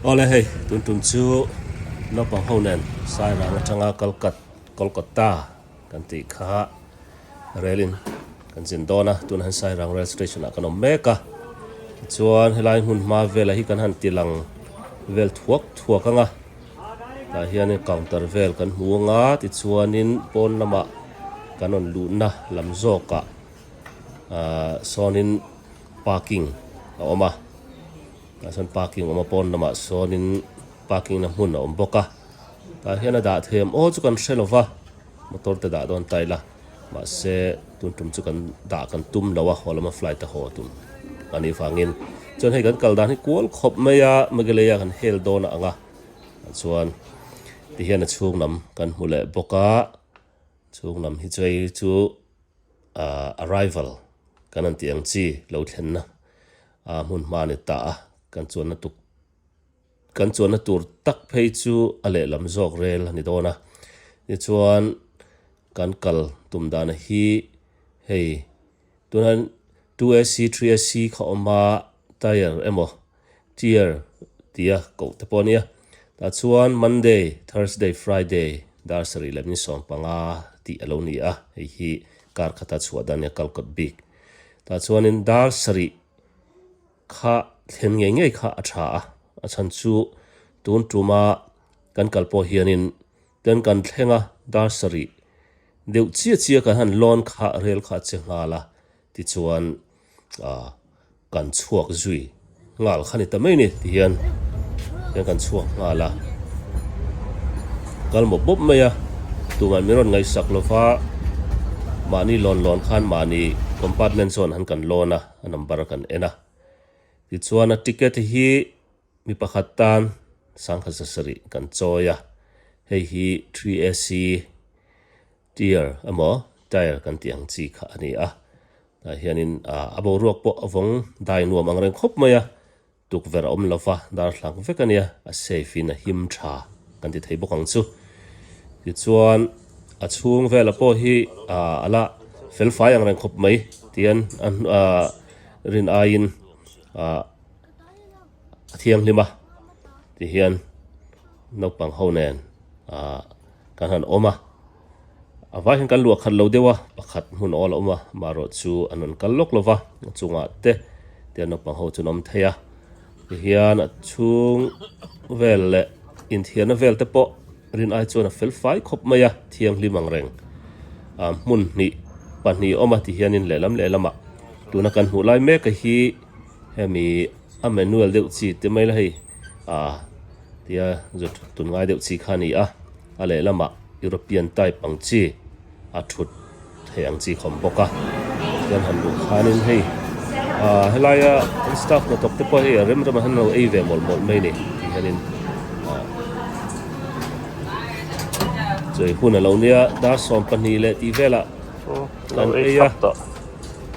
Awle hei tun tum chu naupang ho nen sai rang atanga kalkat kolkata kan tih kha rel in kan zin dawn a tunah hian sai rang rail station ah kan awm mek a tichuan helai hmun hma vel ah hi kan han ti lang vel thuak thuak ang a tah hian in counter vel kan hmu ang a tichuan in pawn lamah kan rawn luh na lam zawk ah ah sawnin parking a awm a tah chuan parking awm a pawn lamah sawnin parking na hmun a awm bawk a tah hian a dahthem aw chu kan hre lova motor te dah dawn ta ila mahse tun tum chu kan dah kan tum lo a haw lama flight a haw tum a nih vangin chuan hei kan kal dan hi kual khawp mai a Migalei a kan hel dawn a ang a tah chuan tihian a chhung lam kan hmu leh bawk a. Chhung lam hi chei chu arrival kan han tih ang chi, lo thlenna aa hmun hma ni ta a, kan chuanna tuk kan chuanna tur tak phei chu a lehlam zawk rel a ni dawn a, tichuan kan kal tum dana hi hei tunah hian two SC three SC kha awm a, tyre emaw. Dear, tia koh te pawh a nia. Tah chuan Monday, Thursday, Friday, dar sarih leh min sawm panga tih a lo ni a, hei hi kar khata chhuah dan a nia, kal kawt bik. Tah chuanin dar sarih kha thlen ngei ngei kha a tha a, a chhan chu tun tumah kan kal pawh hianin Kan kan thleng a, dar sarih deuh chiah chiah kan han lawn kha rel kha che nghal a, tichuan ah kan chhuak zui nghal kha ni ta mai ni tihian hian kan chhuak nghal a, kal mawp mawp mai a, tumah min rawn ngaihsak lova, mahni lawn lawn khan mahni compartment zawn han kan lawn a, a number a kan en a, tichuan a ticket hi. Mi pakhat tan sangkhatsa sarih kan chawi a, hei hi three ac tier emaw tire kan tih ang chi kha a ni a, tunah hianin a boruak pawh a vawng dai nuam ang reng khawp mai a, tukverh a awm lova darthlalang vek a nia a safe in a him tha kan ti thei bawk ang chu. Tichuan a chhung vela pawh hi a la felfai ang reng khawp mai tian a rin aiin a. a thianghlim a tihian naupang ho nen ah kan han awm a a vai hian kan luah khat lo deuh a pakhat hmun awl a awm a maherawh chu an rawn kal lawk lo va a chungah te tihian naupang ho chu an awm thei a tihian a chhung vel leh inthiarna vel te pawh rin ai chuan a fel fai khawp mai a thianghlim ang reng ah hmun hnih pahnih a awm a tihian in lehlam lehlamah tuna kan hmuh lai mek hi-- Hemi a manual deuh chi te mai la hei a tia zut tun ngai deuh chi kha a ni a, a lehlamah European type ang chi a thut theih ang chi khawm bawk a, chuan han luh khanin hei ah helaia an staff hna tawk te pawh hei rem rem ah hian an lo ei ve mawlh mawlh mai ni tih hianin ah chawi hun a lo nia dar sawm pahnih leh tih velah an ei a.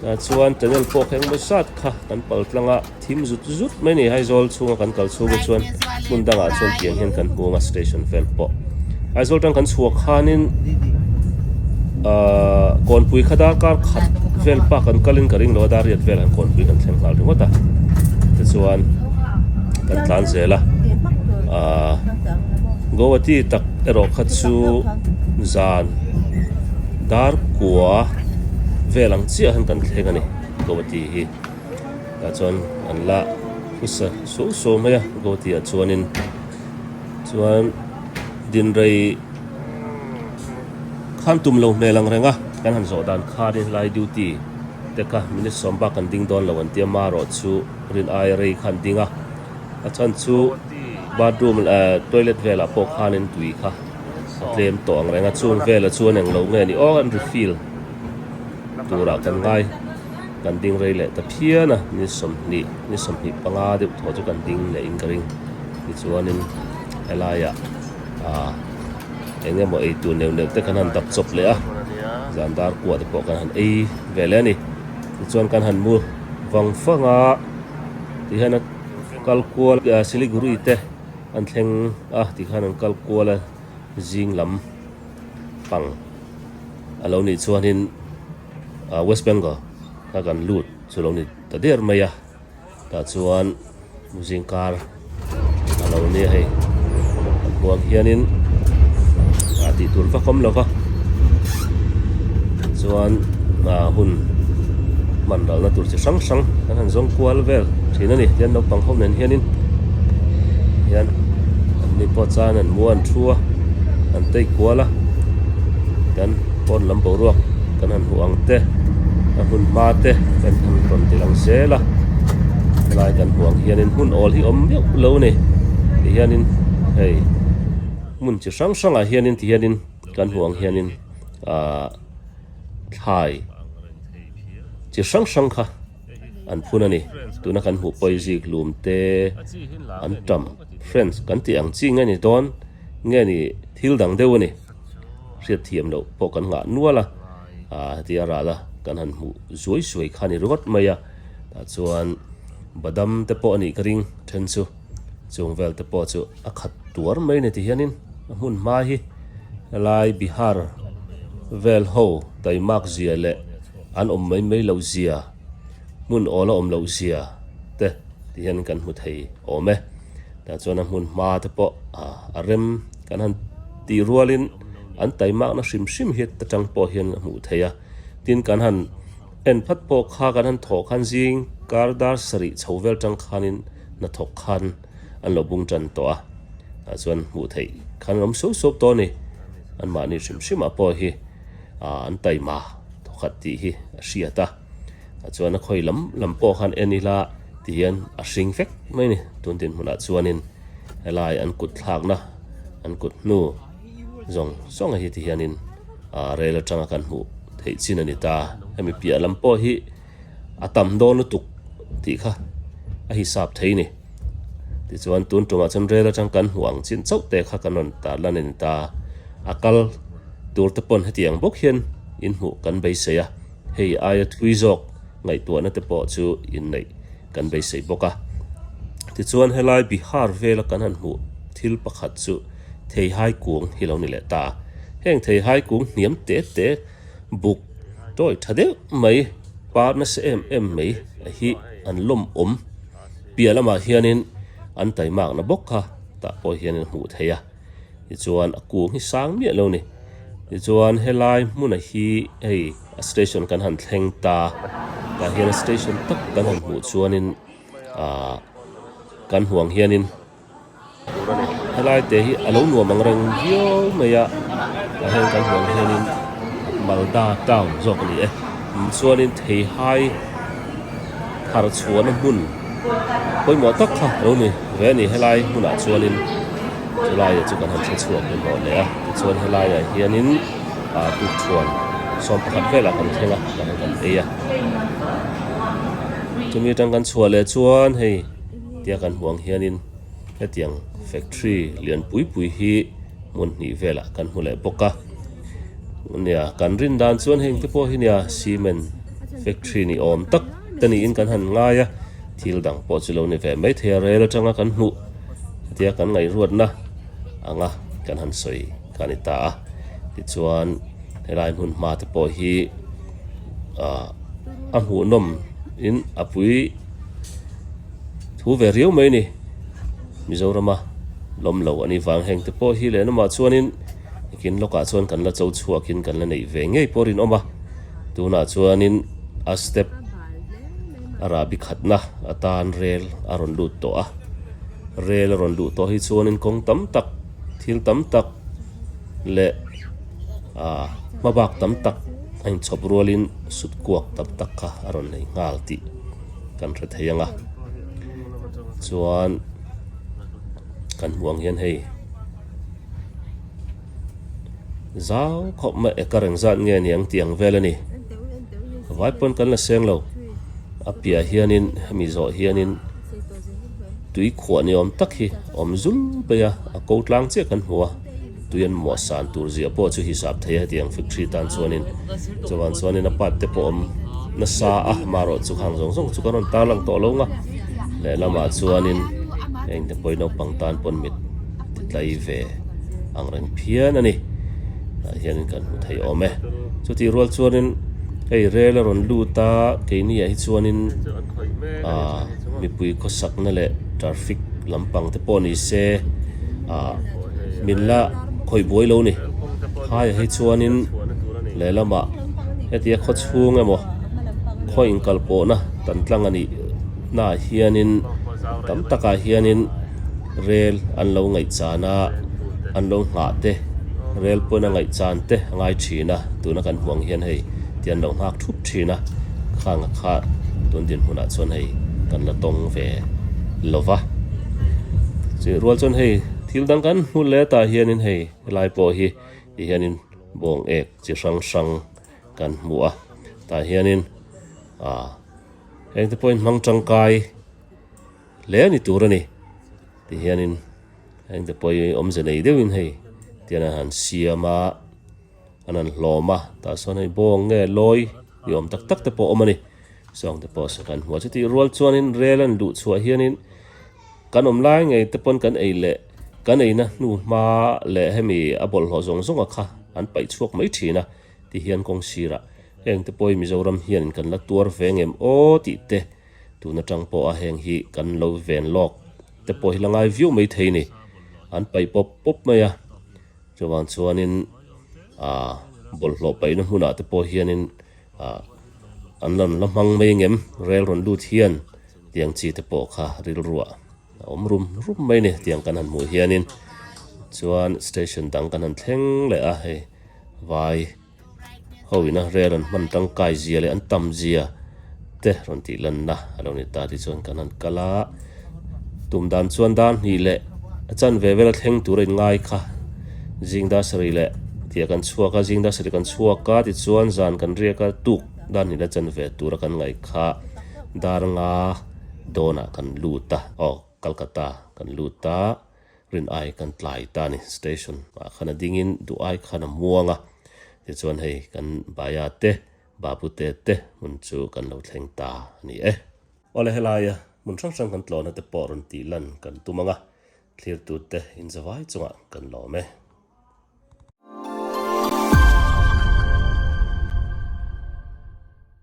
Tah chuan channel pawh ka engemaw zat kha kan pal tlang a, thim zut zut mai ni. Aizawl chhunga kan kal chhung ah chuan hmun dangah chuan tiang hian kan hmu ang a station vel pawh. Aizawl tang kan chhuak khanin aaa Kawnpui kha dar kar khat vel pah kan kalin ka ring lo a, Dariat vel han Kawnpui kan thleng nghal ringawt a, tichuan kan tlan zel a. Aaa Guwahati tak erawh kha chu zan. Dar kua vel ang chiah han kan thleng a ni Gowati hi. Tah chuan an la hrusa suau suau mai a Gowati ah chuanin. Chuan dinrei khan tum lo hmel ang reng a, kan han zawh dan khanin helai duty te kha minute sawm bak kan ding dawn lo an tia marawh chu rin aia rei kha an ding a. A chhan chu bathroom eh toilet velah pawh khanin tui kha. A tlem tawh ang reng a, chung vela chuan eng lo nge ni awk an refill turah kan ngai, kan ding rei leh ta phian a, ni sawmhnih, ni sawmhnih panga deuh tawh chu kan ding leh in ka ring, tichuanin helaiah aah eng emaw eitur neuh neuh te kan han dak chawp leh a, zan dar kuah te pawh kan han ei ve leh a ni, tichuan kan han mu vang fang a, tihian a kal kual Siliguri te. An thleng a tih khan an kal kual a, zing lam pang a lo nih chuanin West Bengal kha kan lut chu lo ni ta der mai a, tah chuan zing kar a lo nia hei kan huam hianin a tih tur vak awm lo va, tichuan hun hman ralna tur chi hrang hrang kan han zawng kual vel thin a ni, naupang ho nen hianin. hian anni pawh chuan an mu an thu a an take kual a chuan phone lam boruak kan han hmuh ang te a hun hma te kan han rawn ti lang zel a helai kan hmuh ang hianin hmun awl hi awm deuh lo a ni ti hianin hei hmun chi hrang hrang ah hianin ti hianin kan hmuh ang hianin ahh thlai chi hrang hrang kha-- an phun a ni tuna kan hmuh pawh hi ziklum te an tam friends kan tih ang chi nge ni dawn nge ni thil dang deuh a ni hriat thiam loh pawh kan ngah nual a ah tia rah la kan han hmuh zuai zuai kha a ni ringawt mai a tah chuan badam te pawh a nih ka ring a then chu chung vel te pawh chu a khat tuar mai a ni tihianin a hmun hma hi helai bihar vel ho taimak zia leh An awm mai mai loh zia, hmun awl a awm loh zia te ti hian kan hmu thei awm e. Tah chuan a hmun hma te pawh a rem kan han tih rualin an taimakna hrim hrim hi atang pawh hian a hmuh theih a. Tin, kan han en phat pawh kha kan han thawh khan zing kar dar sarih chho vel atang khanin hnathawk khan an lo bung tan tawh a. Tah chuan hmuh theih khan an awm suau suau tawh a ni. Anmahni hrim hrimah pawh hi. an taima thawkhat tih hi a hriat a, chuan a khawi lam lam pawh khan en ila tih hian a hring fek mai a ni, tun dinhmunah chuanin helai an kut thlakna an kut hnu zawng zawng a hi ti hianin rel atanga kan hmuh theih chin a ni ta, hemi piah lam pawh hi. a tam dawn lutuk tih kha a hisap thei ni. Tichuan tun tawngah chuan rel atang kan hmuh ang chin chauh te kha kan rawn tarla a ni ta. A kal tur te pawn hetiang bawk hian in hmuh kan beisei a, hei aia thui zawk ngaihtuahna te pawh chu inneih kan beisei bawk a. Tichuan helai Bihar vela kan han hmuh thil pakhat chu Theihai Kung hi lo ni leh ta. Heng Theihai Kung hniam te te. buk tawih tha deuh mai par nasa em em mai a hi an lawmawm piah lamah hianin an taimakna bawk kha tah pawh hian an hmuh theih a tichuan a kung hi sang miah lo ni tichuan helai hmuna hi hei a station kan han thleng ta tah hian station tak kan han hmuh chuanin ahh kan huang hianin. Helai te hi a lo nuam ang reng viau mai a, tah hian kan hmuh ang hianin Malda town zawk a ni e, tichuanin theihai thar chhuahna hmun pawimawh tak kha a lo ni ve a ni, helai hmunah chuanin chulaia chu kan han thla chhuah pawimawh leh a, tichuan helaiah hianin ah tukṭhuan sawm pakhat velah kan thleng a, kan ei a, chumi aṭang kan chhuah leh chuan hei. Tia kan hmuh ang hianin hetiang factory lian pui pui hi hmun hnih velah kan hmu leh bawk a. Nia kan rin dan chuan heng te pawh hi nia cement factory ni awm tak te niin kan han ngai a, thil dang pawh chu lo ni ve mai thei a, rel atanga kan hmuh tia kan ngaihruatna anga kan han sawi kha a ni ta a. Tichuan helai hmun hma te pawh hi ah a hmuhnawm in a pui-- thu ve riau mai ni Mizorama lawm lo ani vang heng te pawh hi lenawma chuanin kin lawkah chuan kan la cho chhuak in kan la neih ve ngei pawh rinawm a tunah chuanin a step a rah bi khatna atan rel a rawn lut tawh a rel a rawn luh tawh hi chuanin kawng tam tak thil tam tak leh ah hma bak tam tak a inchhawp rualin sut kuak tam tak kha a rawn nei nghal tih-- kan hre thei ang a chuan kan hmuh ang hian hei zau khawp mai e ka reng zat nge ni ang tih ang vel a ni vai pawn kan la seng lo a piah hianin hemi zawh hianin tui khuah ni awm tak hi awm zul mai a a ko tlang chiah kan hmu a. Tuian muah san tur ziah pawh chu hi sap thei a hetiang factory tan chuanin chuvan chuanin a pipe te pawh awm nasa a marawh chu khang zawng zawng chu ka rawn tarlang tawh along a lehlamah chuanin hei innepuai naupang tan pawn mit titlai ve ang reng phian a ni tah hianin kan hmu thei awm e chutih rual chuanin hei rel a rawn lut a keini ah hi chuanin ahh-- mipui khawsakna leh traffic lampang te pawh ni se ah min la khawih buai lo ni khaia hi chuanin lehlamah hetia khaw chhung emaw khaw inkal pawhna tan tlang a nih hnah hianin tam takah hianin-- rel an lo ngaihchana an lo nghah te rel pawn a ngaihchan te a ngai thin a tuna kan hmuh ang hian hei ti an lo nghak thup thin a khang a kha tun dinhmun ah chuan hei kan la tawng ve lo va chei rual chuan hei thil dang kan hmu leh tah hian in hei helai pawh hi ti hian in bawng ek chi hrang hrang kan hmu a tah hian in a heng te pawh in hmang tangkai-- Hle a ni tur a ni tih hianin hengte pawh hi awmze nei deuhin hei tian a han siam a, an han hlawm a. Tah sawn hei bawng nge lawi ni awm tak tak te pawh a awm a ni. Zawng te pawh saw kan hmu a. Chutih rual chuanin rel a han duh chhuah hianin kan awm lai ngei te pawn kan ei leh kan eina hnu hma leh hemi a bawlhhlawh zawng zawnga kha an paih chhuak mai thin a tih hian kawng sirah heng te pawh hi Mizoram hianin kan la tuar ve ngem aw tih te. tun atang pawh a heng hi kan lo ven lawk te pawh hi la ngai viau mai thei ni an paih pawp pawp mai a chuvang chuanin ah bawlhhlawh paihna hmunah te pawh hianin ah an rawn la hmang mai ngem rel rawn lut hian tiang chi te pawh kha rilruah a awm rum rum mai ni tiang kan han hmuh hianin chuan station dang kan han thleng leh a hei vai. Hoin-a rel an hman tangkai zia leh an tam zia te rawn tih lanna a lo ni ta tih chuan kan han kal a, tum dan chuan dar hnih leh a chan ve vel a thleng tur a in ngai kha, zing dar sarih leh tih a kan chhuak a, zing dar sarih kan chhuak a tichuan zan kan riak a, tuk dar hnih leh a chan ve tur a kan ngaih kha, dar nga dawn ah kan lut a, aw Calcutta ah kan lut a. rin ai kan tlai ta a ni. Station ah khan a dingin duh ai khan a muang a, tichuan hei kan Baya te Babute te hmun chu kan lo thleng ta a ni e. Aw le, helaia hmun hrang hrang kan tlawhna te pawh rawn tih lan kan tum ang a, thlirtute inzavai chunga kan lawm e.